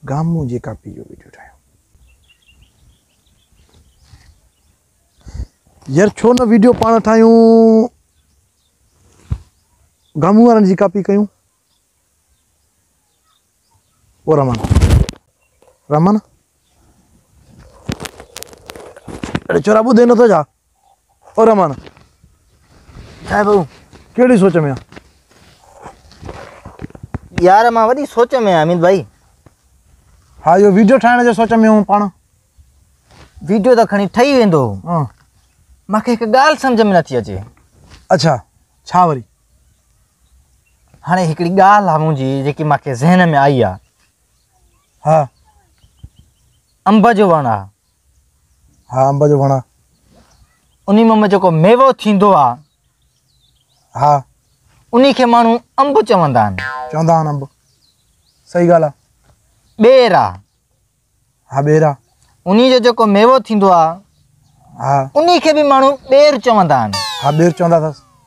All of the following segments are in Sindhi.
گامون جي ڪاپي جو ويڊيو ٺاهيو يار ڇو نه ويڊيو پاڻ ٺاهيون گامون وارن جي ڪاپي ڪيون او رحمان رحمان اڙي چورا ٻڌي نٿو ڇا او رحمان ها ڀائو ڪهڙي سوچ ۾ يار مان وڏي سوچ ۾ امين ڀائي ها اهو ويڊيو ٺاهڻ جي سوچ ۾ هو پاڻ ويڊيو ته کڻي ٺهي ويندو ها مونکي هڪ ڳالهه سمجھ ۾ نٿي اچي اچھا ڇا وري هاڻي هڪڙي ڳالهه آ منهنجي جيڪي مونکي ذهن ۾ آئي آ ها انب جو وڻ آ ها انب جو وڻ انهي مان جيڪو ميوو ٿيندو آ ها انهي کي ماڻهو انب چوندا آهن چوندا آهن انب صحيح ڳالهه آ ٻير آ ها ٻير آ انهي جو جيڪو ميوو ٿيندو آ ها انهي کي به ماڻهو ٻير چوندا آهن ها ٻير چوندا اٿس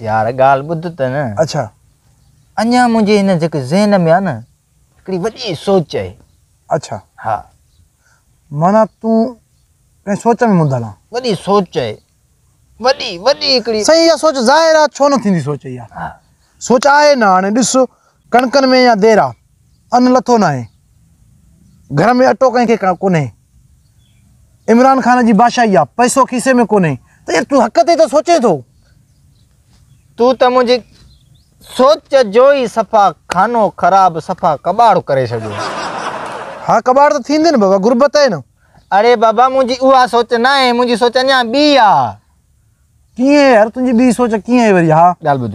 يار ڳالهه ٻڌ ته نه. اڇا. اڃا منهنجي هن جيڪي ذهن ۾ آ نه هڪڙي وڏي سوچ آهي. اڇا. ها. معنيٰ تون ڪنهن سوچ ۾ منڌل آن. وڏي سوچ آهي. وڏي وڏي هڪڙي. سائين اها سوچ ظاهر آ ڇو نه ٿيندي سوچ اها. ها. سوچ آهي نه هاڻي ڏس ڪڻڪن ۾ اڃا دير آ. ان لٿو ناهي، گهر ۾ اٽو ڪنهن کي ڪونهي، عمران خان جي بادشاهي آ، پئسو کيسي ۾ ڪونهي، ته يار تون حق تي ته سوچين ٿو. تون ته منهنجي سوچ جو ئي صفا خانو خراب صفا ڪٻاڙ ڪري ڇڏيو. ها ڪٻاڙ ته ٿيندين بابا، غربت آهي نه. اڙي بابا منهنجي اها سوچ ناهي، منهنجي سوچ اڃا ٻي آ. ڪيئن يار تنهنجي ٻي سوچ ڪيئن آهي وري ها. ڳالهه ٻڌ.